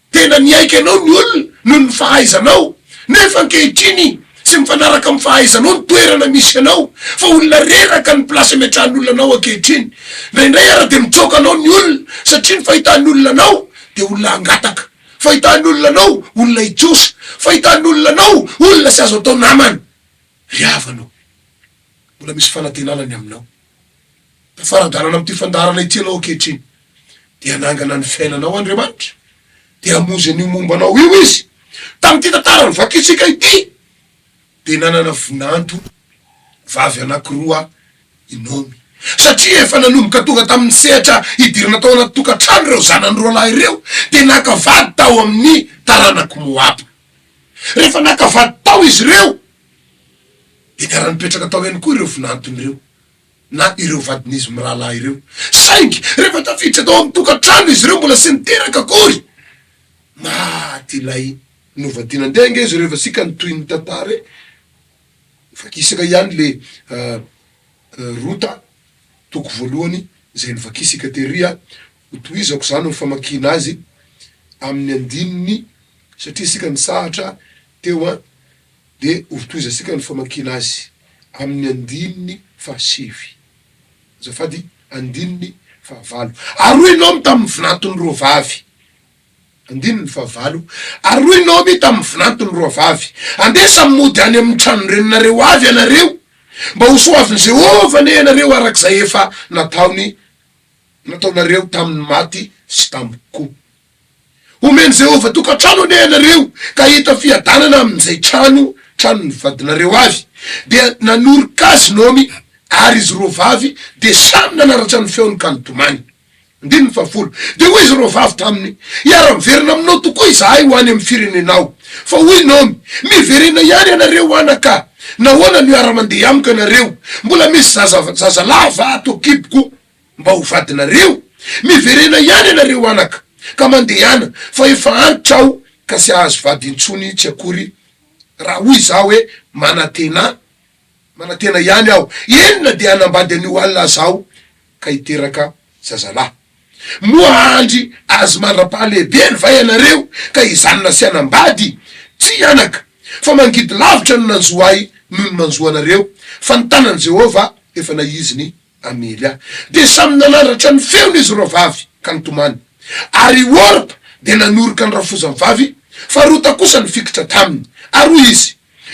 Tena niaiky anao ny olona noho ny fahaizanao, nefa ankehitriny tsy mifanaraka amin'ny fahaizanao ny toerana misy anao, fa olona reraka ny place ametrahan'olona anao ankehitriny. Indraindray ara dia mitsoaka anao ny olona satria ny fahitan'olona anao dia olona hangataka, fahitan'olona anao olona hitrosa, fahitan'olona anao olona tsy azo atao namana. Ry havana ô! Mbola misy fanantenana ny aminao. Tafara-dalana amin'ity fandaharana ity ianao ankehitriny, dia hanangana ny fiainanao Andriamanitra, dia hamonjy an'io momba anao io Izy. Tamin'ity tantara novakintsika ity, dia nanana vinanto vavy anankiroa i Naomy, satria efa nanomboka tonga tamin'ny sehatra hidirana tao anaty tokantrano ireo zanany roa lahy ireo, dia naka vady tao amin'ny taranak'i Moaba. Rehefa naka vady tao izy ireo, dia niara-nipetraka tao ihany koa ireo vinantony ireo. na ireo vadin'izy mirahalahy ireo. Saingy rehefa tafiditra tao amin'ny tokantrano izy ireo mbola tsy niteraka akory. Maty ilay novadiana. Andeha ange izy ireo fa isika no toy ny tantara e! Vakisaka ihany le Rota toko voalohany izay novakisika tery a! Hotohizako izany amin'ny famakiana azy amin'ny andininy satria isika nitsahatra teo an! Dia hotohizantsika ny famakiana azy amin'ny andininy fahasivy, azafady, andininy fahavalo. Ary hoy Naomy tamin'ny vinantony roa vavy, andininy fahavalo, Ary hoy Naomy tamin'ny vinantony roa vavy, Andeha samy mody any amin'ny tranon-dreninareo avy ianareo, mba ho soavin'i Jehovah anie ianareo araka izay efa nataony, nataonareo tamin'ny maty sy tamiko. Homen'i Jehovah tokantrano anie ianareo, ka hahita fiadanana amin'izay trano, tranon'ny vadinareo avy. Dia nanoroka azy Naomy, ary izy roa vavy dia samy nanaratra ny feony ka nitomany. Andininy fahafolo. Dia hoy izy roa vavy taminy, Hiara-miverina aminao tokoa izahay ho any amin'ny firenenao. Fa hoy Naomy, Miverena ihany ianareo anaka! Nahoana no hiara-mandeha amiko ianareo? Mbola misy zaza, zazalahy va ato an-kiboko? Mba ho vadinareo? Miverena ihany ianareo anaka ka mandehana fa efa antitra aho ka tsy hahazo vady intsony tsy akory raha hoy izaho hoe manatena manatena ihany aho eny na dia hanambady an'io alina aza aho ka hiteraka zazalahy. Moa hahandry azy mandra-pahalehibeny va ianareo ka hijanona tsy hanambady? Tsia anaka fa mangidy lavitra no nanjo ahy noho ny manjo anareo fa ny tanan'i Jehovah efa naiziny Amelia dia samy nanandratra ny feony izy roa vavy ka nitomany, ary i Orpa dia nanoroka ny rafozany vavy, fa Rota kosa nifikitra taminy. Ary hoy izy,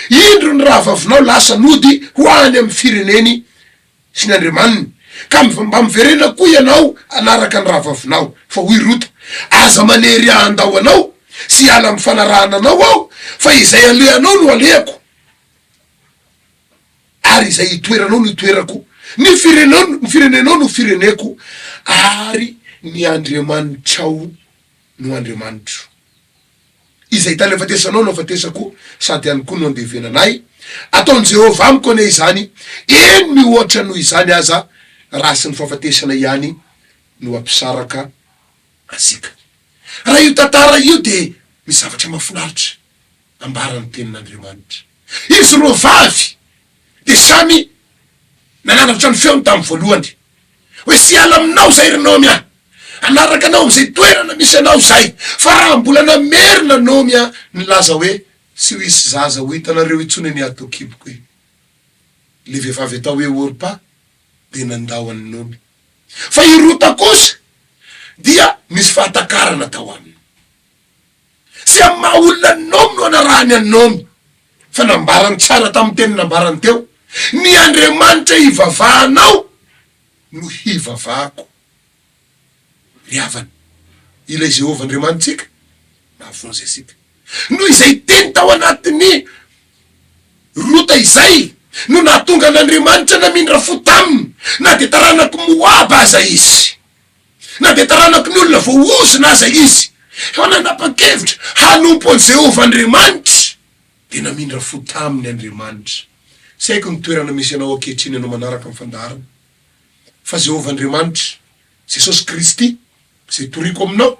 Indro ny rahavavinao lasa nody ho any amin'ny fireneny sy ny andriamaniny, ka mba miverena koa ianao hanaraka ny rahavavinao. Fa hoy Rota, Aza manery ahy handao anao sy hiala amin'ny fanarahana anao aho, fa izay alehanao no alehako. Ary izay itoeranao no itoerako, ny firenao, ny firenenao no fireneko, ary ny Andriamanitrao no Andriamanitro. Izay tany afatesanao no afatesako, sady any koa no andevenana ahy. Ataon'i Jehovah amiko anie izany, eny, mihoatra noho izany aza, raha tsy ny fahafatesana ihany no hampisaraka antsika. Raha io tantara io dia misy zavatra mahafinaritra ambara ny Tenin'Andriamanitra. Izy roa vavy dia samy nanandratra ny feony tamin'ny voalohany hoe, Siala aminao izay, ry Naomy a! Hanaraka anao amin'izay toerana misy anao izahay. Fa raha mbola namerina Naomy a, nilaza hoe, Tsy ho hisy zaza ho hitanareo intsony anie ato an-kiboko e! Ilay vehivavy atao hoe Orpa dia nandao an'i Naomy. Fa i Rota kosa dia nisy fahatakarana tao aminy. Tsy amin'ny maha olona an'i Naomy no anarahany an'i Naomy, fa nambarany tsara tamin'ny teny nambarany teo, Ny Andriamanitra ivavahanao no hivavahako. Ry havana, ilay Jehovah Andriamanitsika mahavonjy antsika. Noho izay teny tao anatin'i Rota izay no nahatonga an'Andriamanitra namindra fo taminy, na dia taranak'i Moaba aza izy. na dia taranakon' olona voaozona aza izy, fa nanapa-kevitra hanompo an'i Jehovah Andriamanitra, dia namindra fo taminy Andriamanitra. Tsy haiko ny toerana misy anao ankehitriny ianao manaraka ny fandaharana, fa Jehovah Andriamanitra, Jesosy Kristy, izay toriko aminao,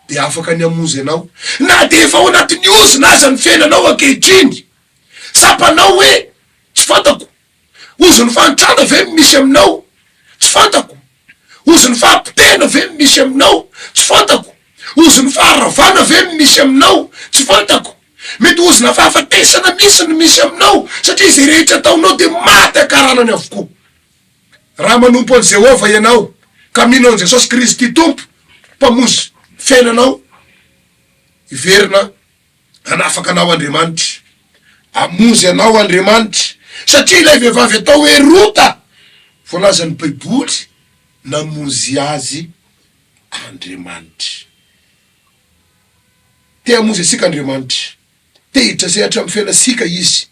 dia afaka ny hamonjy anao, na dia efa ao anatin'ny ozona aza ny fiainanao ankehitriny. Tsapanao hoe, Tsy fantako Ozon'ny fahantrana ve no misy aminao? Tsy fantako. Ozon'ny fahapotehana ve no misy aminao? Tsy fantako. Ozon'ny faharavana ve no misy aminao? Tsy fantako. Mety ozona fahafatesana mihitsy no misy aminao, satria izay rehetra ataonao dia maty ankaranany avokoa. Raha manompo an'i Jehovah ianao, ka mino an'i Jesosy Kristy Tompo, Mpamonjy fiainanao, hiverina Hanafaka anao Andriamanitra. Hamonjy anao Andriamanitra. Satria ilay vehivavy atao hoe Rota, voalazan'ny Baiboly, namonjy azy Andriamanitra. Te hamonjy antsika Andriamanitra. Te hiditra sehatra amin'ny fiainantsika Izy.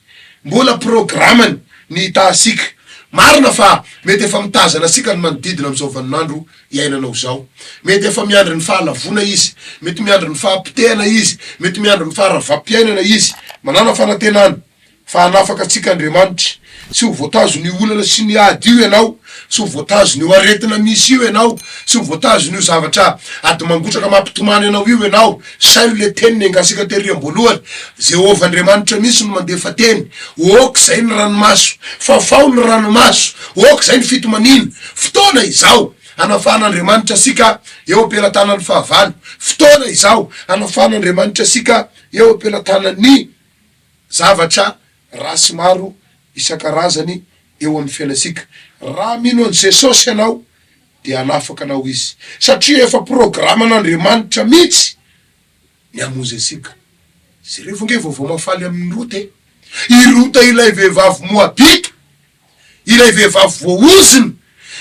Mbola programany ny hitaha antsika. Marina fa mety efa mitazana antsika ny manodidina amin'izao vaninandro iainana ho izao. Mety efa miandry ny fahalavoana izy, mety miandry ny fahapotehana izy, mety miandry ny faharavam-piainana izy. Manàna fanantenana fa hanafaka antsika Andriamanitra. Tsy ho voatazon'io olana sy ny ady io ianao, tsy ho voatazon'io aretina misy io ianao, tsy ho voatazon'io zavatra ady mangotraka mampitomany anao io ianao. Sailo le teny nengasika tery amboalohany, Jehovah Andriamanitra mihitsy no mandefa teny, ok zay ny ranomaso, fafao ny ranomaso, ok zay ny fitomaniana, fotoana izao anafahana Andriamanitra asika eo ampelatanany fahavalo, fotoana izao anafahana Andriamanitra asika eo ampelatanany zavatra ratsy maro isankarazany eo amin'ny fiainantsika. Raha mino an'i Jesosy ianao dia hanafaka anao Izy, satria efa programan'Andriamanitra mihitsy ny hamonjy antsika. Jereo ve ny vaovao mahafaly amin'i Rota e! I Rota ilay vehivavy Moabita, ilay vehivavy voaozona,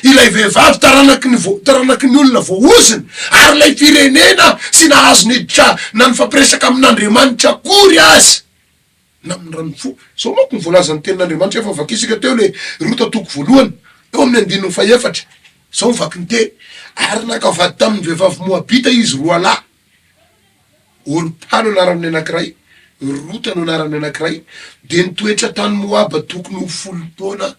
ilay vehivavy taranaky ny taranaky ny olona voaozona, ary ilay firenena tsy nahazo niditra na nifampiresaka amin'Andriamanitra akory aza. na amin'ny ran'ny fo. Izao manko no voalazan'ny Tenin'Andriamanitra efa vakinsika teo ilay Rota toko voalohany, teo amin'ny andininy fahefatra. Izao ny vakin'ny teny, Ary naka vady tamin'ny vehivavy moabita izy roalahy, Orpa no anaran'ny anankiray, Rota no anaran'ny anankiray, dia nitoetra tany Moaba tokony ho folo taona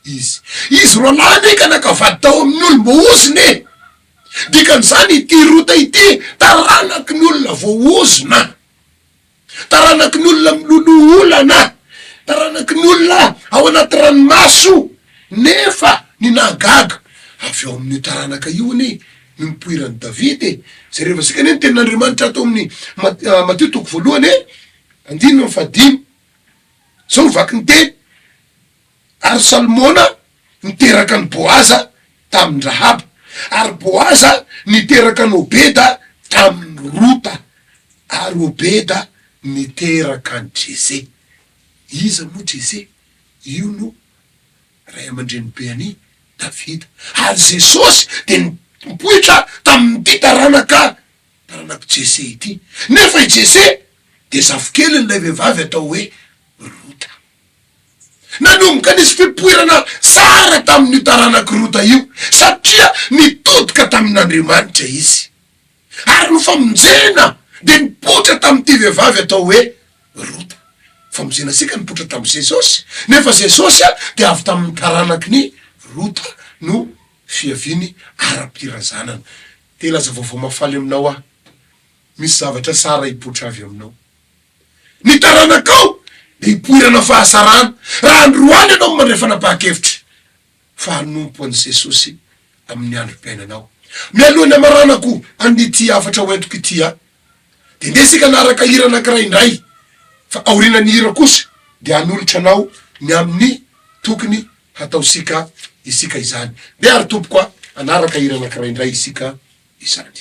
izy. Izy roalahy anie ka naka vady tao amin'ny olom-boahozona e! Dikan'izany, ity Rota ity taranaky ny olona voahozona. Taranakin'olona miloloha olana, taranakin'olona ao anaty ranomaso. Nefa ny nahagaga, avy ao amin'io taranaka io anie no nipoiran'i Davida e! Jerevantsika anie ny tenin'Andriamanitra ato amin'ny Matio toko voalohany andininy fahadimy. Izao no vaky ny teny, Ary Salmona niteraka an'i Boaza tamin'i Rahaba, ary Boaza niteraka an'i Obeda tamin'i Rota, ary Obeda niteraka an'i Jese. Iza moa Jese? Io no ray aman-drenibe an'i Davida. Ary Jesosy dia nipoitra tamin'ity taranaka, taranak'i Jese ity. Nefa i Jese dia zafikeliny ilay vehivavy atao hoe Rota. Nanomboka nisy fipoirana tsara tamin'io taranak'i Rota io, satria nitodika tamin'Andriamanitra izy. Ary ny famonjena dia nipoitra tamin'ity vehivavy atao hoe Rota. Ny famonjenantsika nipoitra tamin'i Jesosy, nefa Jesosy dia avy tamin'ny taranakin'i Rota no fiaviany ara-pirazanana. Te hilaza vaovao mahafaly aminao aho. Misy zavatra tsara hipoitra avy aminao. ny taranakao dia hipoirana fahasarana raha androany ianao mandray fanapahan-kevitra fa hanompo an'i Jesosy amin'ny androm-piainanao. Mialoha ny hamaranako an'ity hafatra hoentiko ity aho dia ndeha isika hanaraka hira anankiray indray fa aorianan'ny hira kosa dia hanolotra anao ny amin'ny tokony hataontsika isika izany. Ndeha ary tompoko a! hanaraka hira anankiray indray isika izany.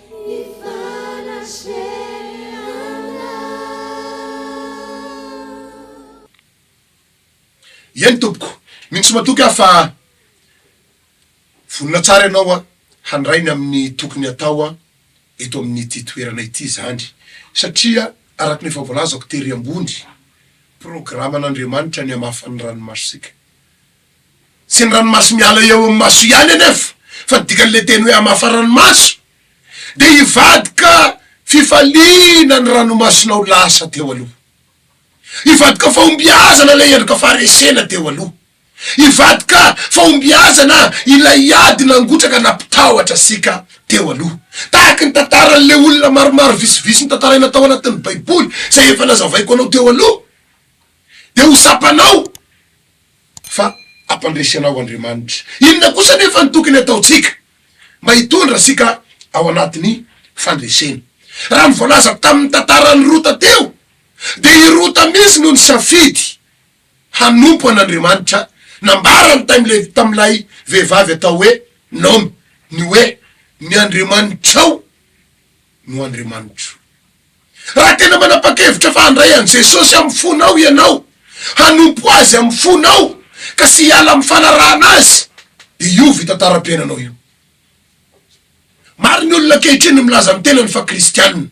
Eny tompoko, mino sy matoky aho fa vonona tsara ianao handray ny amin'ny tokony hatao eto amin'ity toerana ity izany, satria araka ny efa voalazako tery ambony, programan'Andriamanitra ny hamafa ny ranomasontsika. Tsy ny ranomaso miala eo amin'ny maso ihany anefa fa ny dikan'ilay teny hoe hamafa ranomaso dia hivadika fifaliana ny ranomasonao lasa teo aloha. Hivadika fahombiazana ilay endrika faharesena teo aloha. Hivadika fahombiazana ilay ady nangotraka nampitahotra antsika teo aloha. Tahaka ny tantaran'ilay olona maromaro visivisy notantaraina tao anatin'ny Baiboly izay efa nazavaiko anao teo aloha dia ho tsapanao fa hampandresy anao Andriamanitra. Inona kosa anefa no tokony hataontsika mba hitondra antsika ao anatin'ny fandresena? Raha ny voalaza tamin'ny tantaran'i Rota teo, dia i Rota mihitsy no nisafidy hanompo an'Andriamanitra. Nambarany tamin'ilay vehivavy atao hoe Naomy ny hoe, Ny Andriamanitrao no Andriamanitro. Raha tena manapa-kevitra fa handray an'i Jesosy amin'ny fonao ianao, hanompo Azy amin'ny fonao ka sy hiala amin'ny fanarahana Azy, dia io fitantara-piainanao io. Maro ny olona ankehitriny no milaza ny tenany fa kristiana.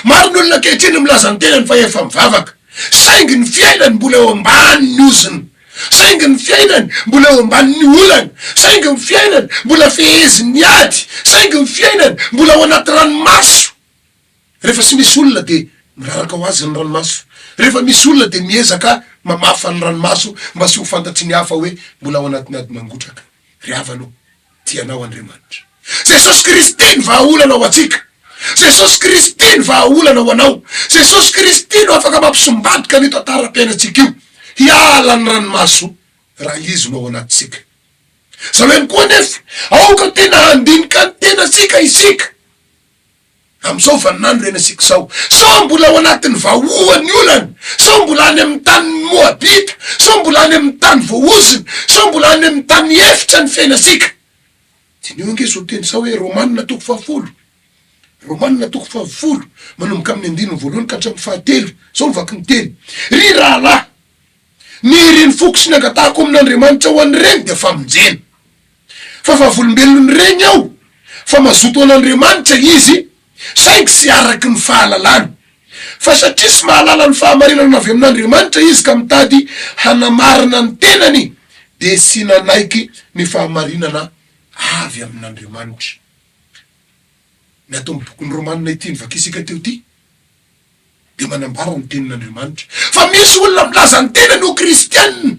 Maro ny olona ankehitriny no milaza ny tenany fa efa mivavaka. Saingy ny fiainany mbola eo ambanin'ny ozona. Saingy ny fiainany mbola eo ambanin'ny olana. Saingy ny fiainany mbola fehezin'ny ady. Saingy ny fiainany mbola ao anaty ranomaso. Rehefa tsy misy olona dia miraraka ho azy ny ranomaso. Rehefa misy olona dia miezaka mamafa ny ranomaso mba tsy ho fantatry ny hafa hoe mbola ao anatin'ny ady mangotraka. Ry havana o, tia anao Andriamanitra. Jesosy Kristy ny vahaolana ho antsika. Jesosy Kristy ny vahaolana ho anao. Jesosy Kristy no afaka mampisombadika an'io tantaram-piainantsika io hiala ny ranomaso raha Izy no ao anatintsika. Izao ihany koa anefa, aoka tena handinika ny tenantsika isika. Amin'izao vaninandro ireny asiako sao. Sao mbola ao anatin'ny vahoa ny olana? Sao mbola any amin'ny tanin'ny Moabita? Sao mbola any amin'ny tany voahozona? Sao mbola any amin'ny tany efitra ny fiainantsika? Diniho ange izao teny sao hoe Romana toko fahafolo. Romana toko fahafolo, manomboka amin'ny andininy voalohany ka hatramin'ny fahatelo. Izao no vaky ny teny, Ry rahalahy! Ny iriny foko sy ny angatahako amin' Andriamanitra ho an' ireny dia famonjena. Fa vavolombelon' ireny aho, fa mazoto an' Andriamanitra izy, saingy tsy araka ny fahalalany. Fa satria tsy mahalala ny fahamarinana avy amin' Andriamanitra izy ka mitady hanamarina ny tenany, dia tsy nanaiky ny fahamarinana avy amin' Andriamanitra. Ny ato amin' ny Bokin' ny Romana ity nivakiantsika teo ity. dia manambara ny tenin'Andriamanitra fa misy olona milaza ny tenany ho kristiana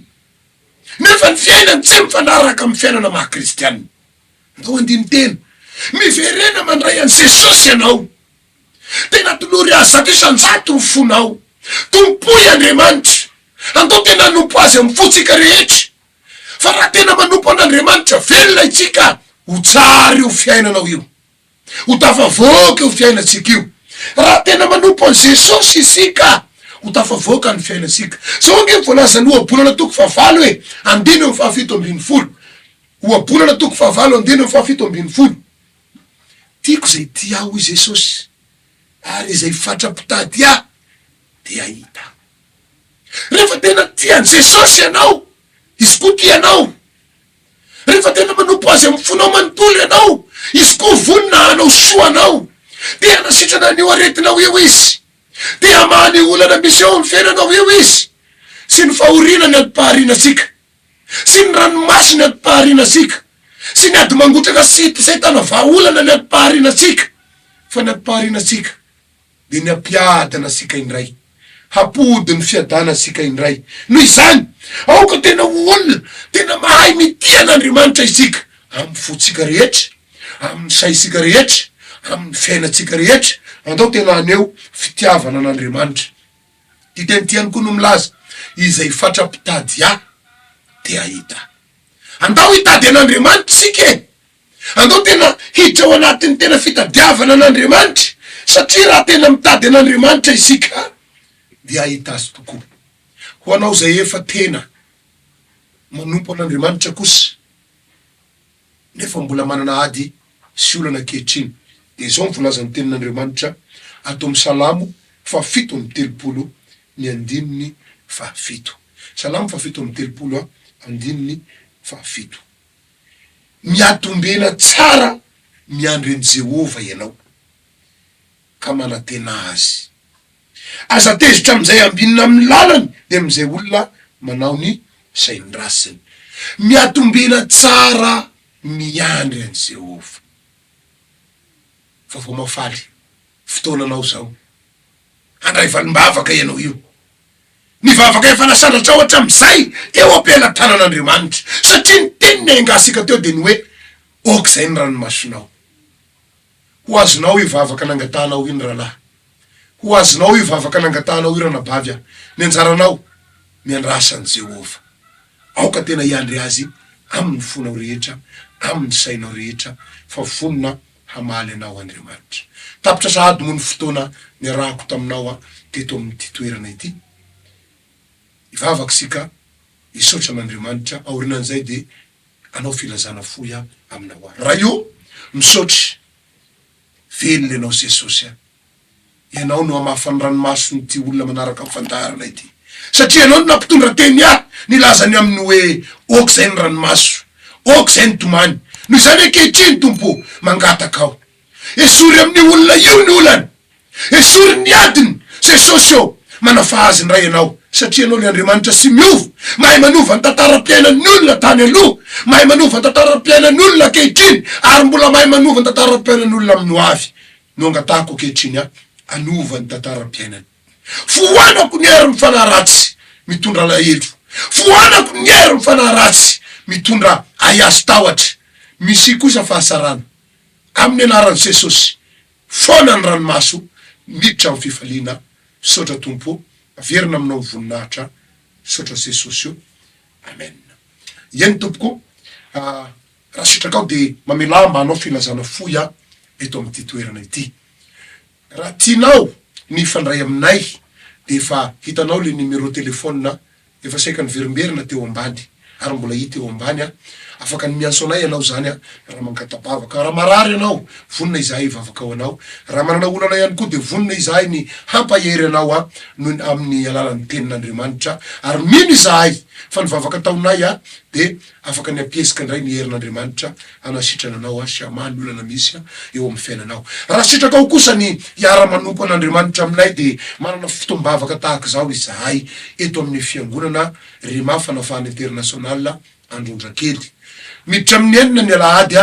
nefa ny fiainany tsy mifanaraka amin'ny fiainana maha kristiana. Andao andini-tena, Miverena mandray an'i Jesosy ianao. Tena tolory Azy zato isan-jato ny fonao. Tompoy Andriamanitra. Andao tena hanompo Azy amin'ny fontsika rehetra. Fa raha tena manompo an'Andriamanitra velona itsika, ho tsara io fiainanao io. ho tafavoaka io fiainantsika io. Raha tena manompo an'i Jesosy isika, ho tafavoaka ny fiainantsika. Izao ange no voalazan'ny Ohabolana toko fahavalo hoe, andininy amin'ny fahafito ambin'ny folo. Ohabolana toko fahavalo andininy amin'ny fahafito ambin'ny folo. Tiako izay tia ahy, hoy Jesosy, ary izay fatra-pitady ahy dia hahita ahy. Rehefa tena tia an'i Jesosy ianao, izy koa tia anao, Rehefa tena manompo Azy amin'ny fonao manontolo ianao, Izy koa vonona hanao soa anao. Te hanasitrana an'io aretinao io Izy. Te hamaha ny olana misy eo amin'ny fiainanao io Izy. Sy ny fahoriana ny antom-paharianantsika. Sy ny ranomaso ny antom-paharianantsika. Sy ny ady mangotraka sy hitosentana vahaolana ny antom-paharianantsika. Fa ny antom-paharianantsika dia ny hampiadana antsika indray, hampody ny fiadana antsika indray. Noho izany, aoka tena ho olona tena mahay mitia an'Andriamanitra isika, amin'ny fontsika rehetra, amin'ny saintsika rehetra, amin'ny fiainantsika rehetra. Andao tena haneho fitiavana an'Andriamanitra. Ity teny ity ihany koa no milaza, Izay fatra-pitady ahy, dia hahita ahy. Andao hitady an'Andriamanitra isika e! Andao tena hiditra ao anatin'ny tena fitadiavana an'Andriamanitra, satria raha tena mitady an'Andriamanitra isika dia hahita Azy tokoa. Ho anao izay efa tena manompo an'Andriamanitra kosa nefa mbola manana ady sy olana ankehitriny dia izao ny volazan'ny Tenin'Andriamanitra ato amin'ny Salamo fahafito amby telopolo ny andininy fahafito. Salamo fahafito amby telopolo andininy fahafito. Miatombena tsara miandry an'i Jehovah ianao, ka manantena azy. Aza tezitra amin'izay ambinina amin'ny lalany, dia amin'izay olona manao ny sain'ny ratsiny. Miatombena tsara miandry an'i Jehovah. Vaovao mahafaly fotoananao izao. Handray valim-bavaka ianao io. Nivavaka efa nasandratra ohatra amin'izay teo am-pelatanan'Andriamanitra, satria ny teniny ahengasika teo dia ny hoe, Aoka izay ny ranomasonao. Ho azonao io vavaka nangatahanao io ny rahalahy. Ho azonao io vavaka nangatahanao io ranabavy a. Ny anjaranao, miandrasa an'i Jehovah. Aoka tena hiandry azy amin'ny fonao rehetra, amin'ny sainao rehetra, fa vonona hamaly anao Andriamanitra. Tapitra sahady moa ny fotoana niarahako taminao teto amin'ity toerana ity. Hivavaka isika hisaotra an'Andriamanitra, aorinan'izay dia hanao filazana fohy aho aminao aho. Ray o, misaotra, velona ianao Jesosy a. Ianao no hamafa ny ranomason'ity olona manaraka ny fandaharana ity. Satria Ianao no nampitondra teny ahy nilaza ny aminy hoe, Ôk izay ny ranomaso. Ôk izay ny tomany. Noho izany ankehitriny, Tompo ô, mangataka Aho. Esory amin'io olona io ny olany. Esory ny adiny. Jesosy ô, manafaha azy indray Ianao. Satria Ianao ilay Andriamanitra tsy miova. Mahay manova ny tantaram-piainan'ny olona tany aloha, mahay manova ny tantaram-piainan'ny olona ankehitriny, ary mbola mahay manova ny tantaram-piainan'ny olona amin'ny hoavy. no angatahako ankehitriny ahy hanova ny tantaram-piainany. Foanako ny herin'ny fanahy ratsy mitondra alahelo. Foanako ny herin'ny fanahy ratsy mitondra ahiazo-tahotra. Misy kosa fahasarana. Amin'ny anaran'i Jesosy, foana ny ranomaso miditra amin'ny fifaliana. Misaotra Tompo ô. Averina aminao ny voninahitra. Misaotra Jesosy ô. Amen. Eny Tompoko. Raha sitraka aho dia mamelà mba hanao filazana fohy aho eto amin'ity toerana ity. Raha tianao ny hifandray aminay dia efa hitanao ilay numéro téléphone efa saika niverimberina teo ambany ary mbola hita eo ambany an! Afaka ny miantso anay ianao izany an! Raha mangata-bavaka, raha marary ianao, vonona izahay hivavaka ho anao. Raha manana olana ihany koa dia vonona izahay ny hampahery anao an! noho ny amin'ny alalan'ny Tenin'Andriamanitra. Ary mino izahay fa ny vavaka ataonay an! dia Afaka ny hampiheska indray ny herin'Andriamanitra hanasitrana anao sy hamaha ny olana misy eo amin'ny fiainanao. Raha sitrakao kosa ny hiara-manompo an'Andriamanitra aminay dia manana fotoam-bavaka tahaka izao izahay eto amin'ny Fiangonana Rhema Fanafahana International Androndrakely, miditra amin'ny enina ny alahady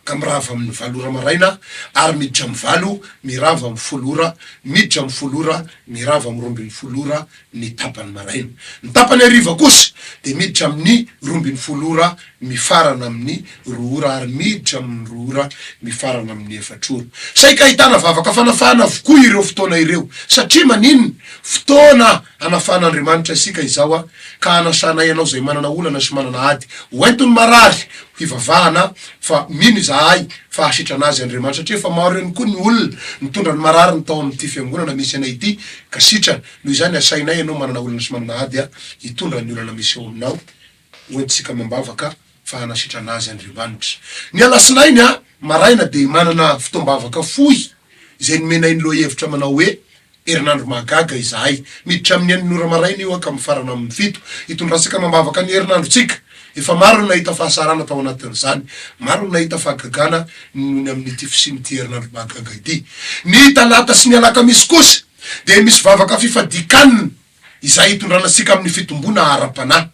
ka mirava amin'ny valo ora maraina ary miditra amin'ny valo mirava amin'ny folo ora, miditra amin'ny folo ora mirava amin'ny roa ambin'ny folo ora ny tapany maraina. Ny tapany hariva kosa dia miditra amin'ny roa ambin'ny folo ora mifarana amin'ny roa ora ary miditra amin'ny roa ora mifarana amin'ny efatra ora. Saika ahitana vavaka fanafahana avokoa ireo fotoana ireo. Satria maninona? Fotoana. Hanafan'Andriamanitra isika izao aho, ka hanasanay ianao izay manana olana sy manana ady ho enton'ny marary ho hivavahana, fa mino izahay fa hahasitrana azy Andriamanitra, satria efa maro ihany koa ny olona nitondra ny marary ny tao amin'ity fiangonana misy anay ity, ka sitrana, noho izany asainay ianao manana olana sy manana ady hitondra ny olana miseho aminao Ho entintsika amam-bavaka fa hanasitrana azy Andriamanitra. Ny Alatsinainy maraina dia manana fotoam-bavaka fohy izay nomenay ny lohahevitra manao hoe, Herinandro Mahagaga Izahay. Miditra amin'ny enina ora maraina io ka mifarana amin'ny fito. Hitondrantsika amam-bavaka ny herinandrontsika. Efa maro no nahita fahasarana tao anatin'izany. Maro no nahita fahagagana ny noho ny amin'ity fisian'ity Herinandro Mahagaga ity. Ny Talata sy ny Alakamisy kosa dia misy vavaka fifadian-kanina. izay hitondrana antsika amin'ny fitomboana ara-panahy.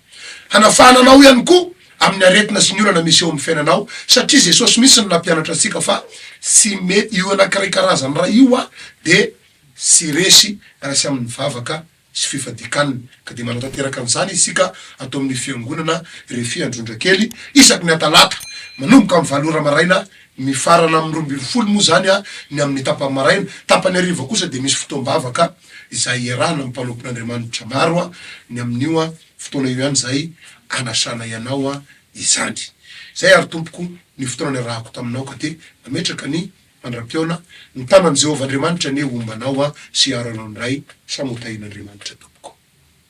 Hanafahana anao ihany koa amin'ny aretina sy ny olana misy eo amin'ny fiainanao, satria Jesosy mihitsy no nampianatra antsika fa tsy mety io anankiray karazany iray io aho dia tsy resy raha tsy amin'ny vavaka sy fifadian-kanina. Ka dia manao tanteraka an'izany isika ato amin'ny Fiangonana Refy Androndrakely isaky ny Atalata manomboka amin'ny valo ora maraina mifarana amin'ny roa ambin'ny folo moa izany ny amin'ny tapany maraina, tapany hariva kosa dia misy fotoam-bavaka izay iarahana amin'ny mpanompon'Andriamanitra maro ny amin'io fotoana io ihany izay anasanay anao izany. Izay ary tompoko ny fotoana niarahako taminao ka te hametraka ny fandrapiona, ny tanan'i Jehovah Andriamanitra anie homba anao sy hiaro anao indray, samy ho tahian'Andriamanitra tompoko.